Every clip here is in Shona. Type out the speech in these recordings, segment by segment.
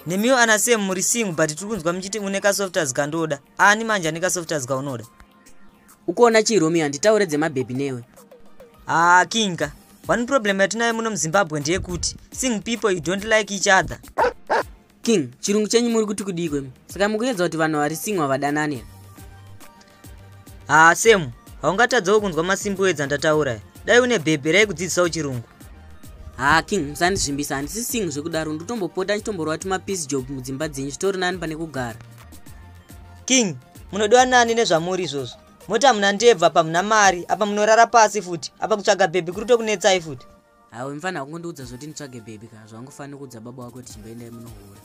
nemiwo ana sam muri sing but tiri kunzwa muchiti une kasoftas kandoda ani manje ane kasoftas kaunoda ukuona chii romi handitaure dzemabhebhi newe haa kinga one problem yatinayo muno muzimbabwe ndeyekuti sing people you don't like each other king chirungu chenyu muri kuti kudii kwemi saka mukuedza kuti vanhu vari singwa vadanane haa semu haungatadzawo kunzwa masimbo edza ndataura dai une bhebhi rai kudzidzisawo chirungu haa king musandizvimbisa handisi sing zvekudaro ndotombopota ndichitomborwa tumapiece job mudzimba dzenyu zvitori nani pane kugara king munodiwa nani nezvamuri izvozvo moti hamuna ndebva apa muna mari apa munorara pasi futi apa kutsvaga bhebhi kuri tokunetsai futi Hawe mfana hakungondiudza zvoti nditsvage baby kana zvaungofanira kuudza baba wako kuti chimboendai munohura.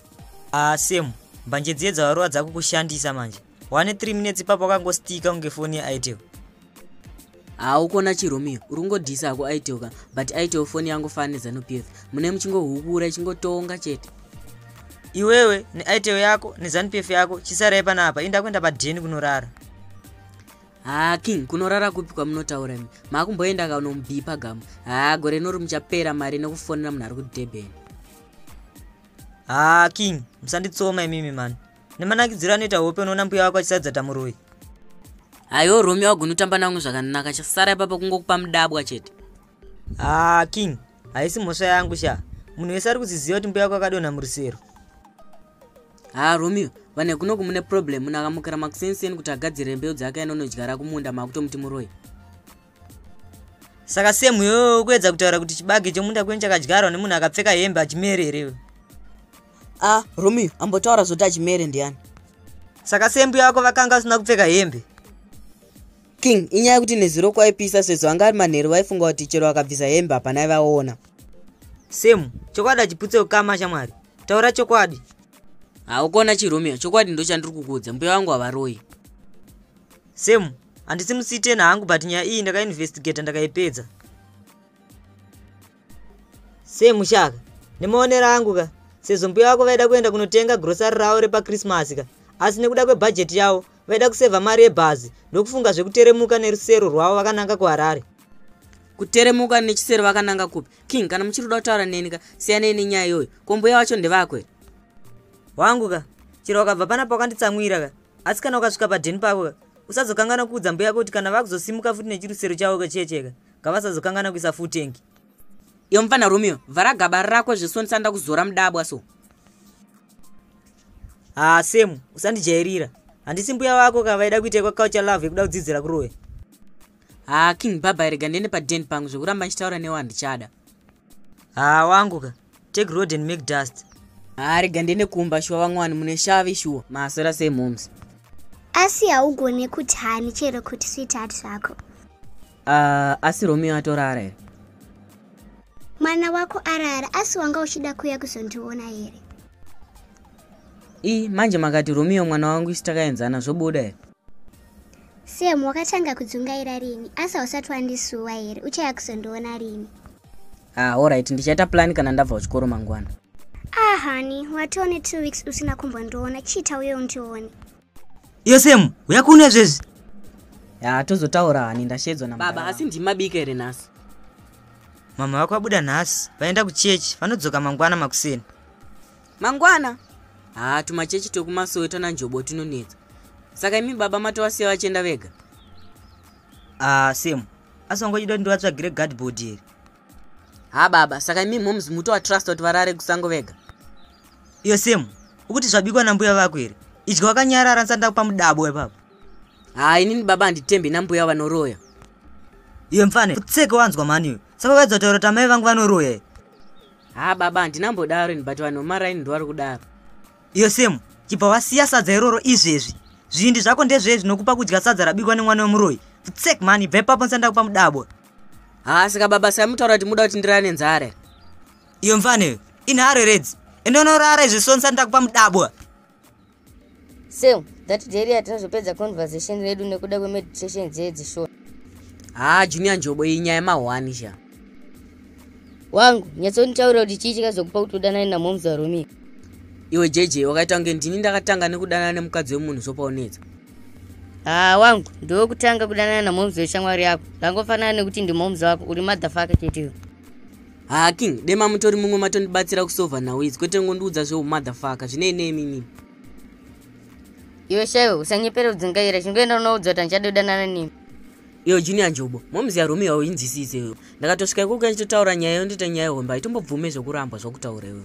Ah Sam, mbanje dziye dzawarowa dzakukushandisa manje. Wane 3 minutes ipapo wakangostika kunge foni yeItel. Ah ukona chiRomeo, uri kungodhisa hako itel ka, but itel foni yangu fana neZanu PF. Mune muchingohubura ichingotonga chete. Iwewe neItel yako neZanu PF yako chisarai panapa, inda kuenda padheni kunorara. haa king kunorara kupi kwamunotaura mi maakumboenda ka unomubhipa gamu haa gore nori muchapera mari nekufonera munhu ari kudurban haa king musanditsoma imimi mani nemanakidziro anoita hope unoona mbuya wako achisadza tamuroi hayo romeo agunotamba namwe zvakanaka chasara ipapa kungokupa mudabwa chete haa king haisi mhosva yangu sha munhu wese ari kuziziva kuti mbuya wako akadonha murusero haa romeo vane kuno kumune problem munhu akamukira makusenseni kuti agadzire mbeu dzake ainonodyara kumunda maakutomuti muroi saka semu yo ukuedza kutaura kuti chibage chomunda kweni chakadyarwa nemunhu akapfeka hembe achimere here a ah, romeo ambotaura zoti achimere ndiani saka sembu yako vakanga vasina kupfeka hembe king inyaya yekuti nezuro kwaipisa sezvo anga ari manheru vaifunga kuti chero vakabvisa hembe hapana aivaona semu chokwadi achiputse ukama shamwari taura chokwadi haukona chiromeo chokwadi ndochandiri kukuudza mbuya vangu havaroi semu handisi musitena hangu but nyaya iyi ndakainvestigata ndakaipedza semu shaka nemaonero angu ka sezvo mbuya vako vaida kuenda kunotenga grosari ravo repakrismasi ka asi nekuda kwebhajeti yavo vaida kusevha mari yebhazi ndokufunga zvekuteremuka nerusero rwavo vakananga kuharare kuteremuka nechisero vakananga kupi king kana muchiri kuda kutaura neni ka siyanei nenyaya iyoyo ko mbuya wacho ndevako here wangu ka chero wakabva pana paukanditsamwira ka asi kana ukasvika padheni pako ka usazokangana kuudza mbuya yako kuti kana vakuzosimuka futi nechirusero chavo ka chiecheka ngavasazokangana kuisa futengi iyo mupfana romeo vhara gaba rako zvesonisa ndakuzora mudabwa so haa semu usandijairira handisi mbuya wako ka vaida kuita kwakaucha love yekuda kudzidzira kuroya haa king baba rega ndiende paden pangu zvekuramba ndichitaura newo handichada haa wangu ka take road and make dust haa rega ndiende kumba shuwa vamwani mune shavi shuwa maswera sei moms asi haugone kuti hani chero kuti sweetheart zvako uh, asi romeo atorara here mwana wako arara asi wanga uchida kuya kuzondiona here i manje makati romeo mwana wangu isi takaenzana zvobuda here Sam, wakatanga kudzungaira rini? Asi hausati wandisuwa here? Uchaya kuzondiona rini? Ah, alright, ndichaita plan kana ndabva kuchikoro mangwana. Ah, honey, watoone two weeks usina kumbondiona. Chiita uye undione. Iyo Sam, uya kuno izvezvi? Ya, tozotaura hani, ndashedzwa na baba. Asi ndimabika here nhasi? Mama vako vabuda nhasi, vaenda kuchechi, vanodzoka mangwana makuseni. mangwana haa tumachechi twekumasowe twana njobo tunonetsa saka imi baba matovasiya vachienda vega haa same asi wangochida kuti ndivatsvagire gadbord here ha baba saka imi moms mutovatrust kuti varare kusango vega iyo same ukuti zvabikwa nambuya vako here idya wakanyarara ndisanda kupa mudabo wepapa haa inini baba handitembi nambuya vanoroya iyo mfane kutseke wanzwa mhani iyo saka vaedza kutaura kuti amai vangu vanoroya haa baba handina mbodaro ini but vanhu vemaraini ndovari kudaro iyo semu chibva wasiya sadza iroro izvezvi zvivindi zvako ndezvee zvinokupa kudya sadza rabikwa nemwana wemuroyi futsek mani bve papo ndisati ndakupa mudabwa haa saka baba sai mutaura kuti muda kuti ndirara nenzara here iyo mfaneyo inharo redzi ende unorara izvi so ndisati ndakupa mudabwa so that day riya tinozopedza conversation redu nekuda kwemeditation dzeye dzishona haa ah, junior njobo iyi nyaya mahwani sha wangu nyatsonitaurira kuti chii chikazokupa kuti udanane namoms warumika iwe jj wakaita kunge ndini ndakatanga nekudanana nemukadzi wemunhu zvopaunetsa haa ah, wangu ndiwe kutanga kudanana namoms weshamwari yako ndangofanana nekuti ndimoms wako uri madhafaka chete iwe haa king dema mutori mumwe matondibatsira kusova nhau idzi kwete ngondiudza zveumotherfucker zvinei nemimi iwe shaiwe usanyepere udzingaira chingoenda unoudzwa kuti andichadodanana nemi iyo junior njobo momzi yarume iwawo inzwisise iyo ndakatosvika ikoko yachitotaura nyaya yondiita nyaya yehombe haitombobvume zvekurambwa zvakutaura iwewe